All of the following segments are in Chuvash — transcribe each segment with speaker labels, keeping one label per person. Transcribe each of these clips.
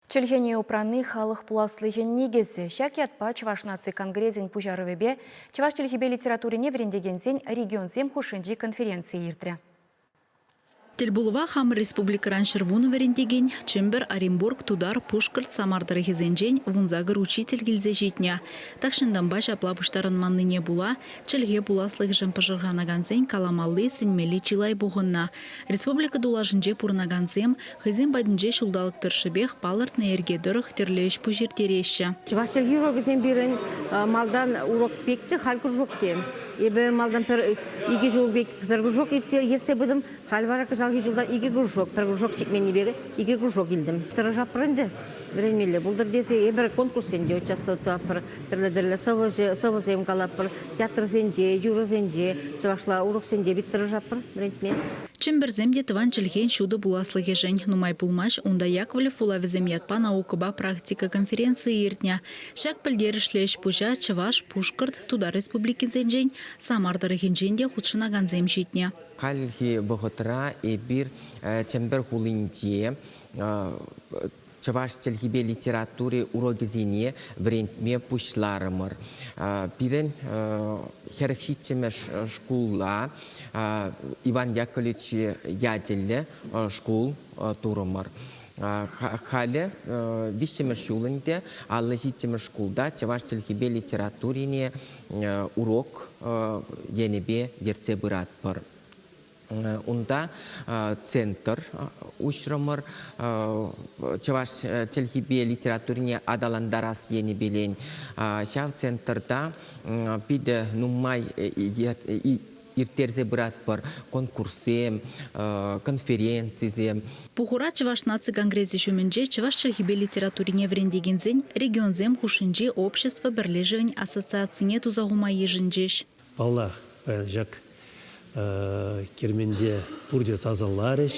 Speaker 1: Чӗлхене упранни халӑх пуласлӑхӗн никӗсӗ. Ҫак ятпа Чӑваш наци конгресӗн пуҫарӑвӗпе чӑваш чӗлхипе литературине вӗрентекенсен регионсем хушшинчи конференцийӗ иртрӗ.
Speaker 2: Тӗлпулӑва хамӑр республикӑран ҫӗрвунӑ вӗрентекен, Чӗмпӗр, Оренбург, Тутар, Пушкӑрт, Самар тӑрӑхӗсенчен вунса кӗр учитель килсе ҫитнӗ. Тахҫантанпа ҫапла пуҫтарӑнманнине пула чӗлхе пуласлӑхӗшӗн пӑшӑрханакансен каламалли, сӗнмелли чылай пухӑннӑ. Республика тулашӗнче пурӑнакансем Хӑйсем патӗнче ҫулталӑк тӑршшӗпех палӑртнӑ йӗрке тӑрӑх тӗрлӗ ӗҫ-пуҫ ирттереҫҫӗ. Чӑваш чӗлхи урокӗсем
Speaker 3: пирӗн малтан урок пекчӗ, халь кружоксем. Эпӗ малтан пӗр икӗ ҫул пек пӗр кружок ертсе пытӑм, халь вара кӑҫалхи ҫулта икӗ кружок, пӗр кружок ҫитменнипе икӗ кружок илтӗм. Тӑрӑшатпӑр ӗнтӗ, вӗренмелле пултӑр тесе эпир конкурссенче участвовать тӑватпӑр, тӗрлӗ-тӗрлӗ сӑвӑсем калатпӑр, театрсенче, юрӑсенче, чӑвашла уроксенче пит тӑрӑшатпӑр вӗрентме. Чӗмпӗрсем те
Speaker 2: тӑван чӗлхен ҫутӑ пуласлӑхӗшӗн нумай пулмасть унта Яковлев вулавӗсем ятпа наукӑпа практика конференцийӗ иртнӗ. Ҫак пӗлтерӗшлӗ ӗҫ-пуҫа Чӑваш, Пушкӑрт, Тутар Республикисенчен, Самар тӑрӑхӗнчен те хутшӑнакансем ҫитнӗ. Хальхи
Speaker 4: вӑхӑтра эпир Чӗмпӗр хулинче Чӑваш чӗлхипе литератури урокӗсене вӗрентме пуҫларӑмӑр. Пирӗн хӗрӗх ҫиччӗмӗш шкула Иван Яковлевич ячӗллӗ шкул турӑмӑр. Халӗ виҫҫӗмӗш ҫул ӗнтӗ аллӑ ҫиччӗмӗш шкулта чӑваш чӗлхипе литературине урок енӗпе ертсе пыратпӑр. Унта центр уҫрӑмӑр. Чӑваш чӗлхипе литературине аталантарас енӗпелен ҫав центрта питӗ нумай ирттерсе пыратпӑр конкурссем, конференцисем. Пухура
Speaker 2: Чӑваш наци конгресӗ ҫумӗнче чӑваш чӗлхипе литературине вӗрентекенсен регионсем хушшинчи общество пӗрлешӗвӗн ассоциацине туса хума йышӑнчӗҫ. Паллах,
Speaker 5: ҫак керменте пурте сасӑларӗҫ.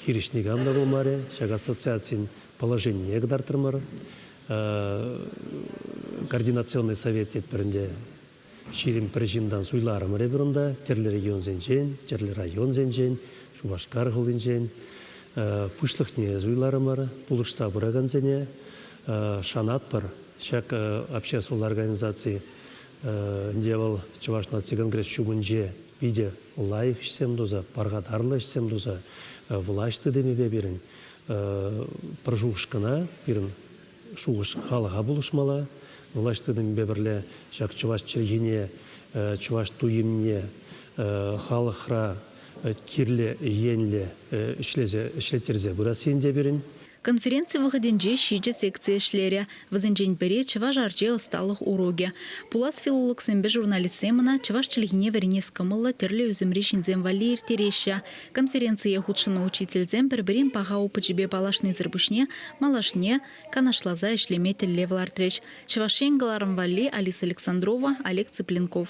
Speaker 5: Хирӗҫ никам та пулмарӗ. Ҫак ассоциацин положенине кӑтартрӑмӑр. Координационный совет тетпӗр ӗнтӗ. Ҫирӗм пӗр ҫынтан суйларӑмӑр эпир унта, тӗрлӗ регионсенчен, тӗрлӗ районсенчен, Шупашкар хулинчен. Пуҫлӑхне суйларӑмӑр, пулӑшса пыракансене. Шанатпӑр, ҫак общество лараканизаци Ӗнтӗ вӑл Чӑваш наци конгресс ҫумӗнче питӗ лайӑх ӗҫсем туса, пархатарлӑ ӗҫсем туса влаҫ тытӑмӗпе пирӗн пӗр шухӑшкӑна, пирӗн шухӑш халӑха пулӑшмалла. Влаҫ тытӑмӗпе пӗрле ҫак чӑваш чӗлхине, чӑваш туйӑмне халӑхра кирлӗ енлӗ ӗҫлеттерсе пырас ен те пирӗн. Конференци
Speaker 2: вӑхӑтӗнче ҫичӗ секци ӗҫлерӗ. Вӗсенчен пӗри, чӑваш арчи ӑсталӑх урокӗ. Пулас филологсемпе журналистсем ӑна чӑваш чӗлхине вӗренес кӑмӑллӑ тӗрлӗ ӳсӗмри ҫынсем валли ирттереҫҫӗ. Конференцие хутшӑннӑ учительсем пӗр-пӗрин паха опычӗпе паллашнисӗр пуҫне малашне канашласа ӗҫлеме тӗллев лартрӗҫ. Чӑваш Ен кӑларӑм валли Алиса Александрова, Олег Цыпленков.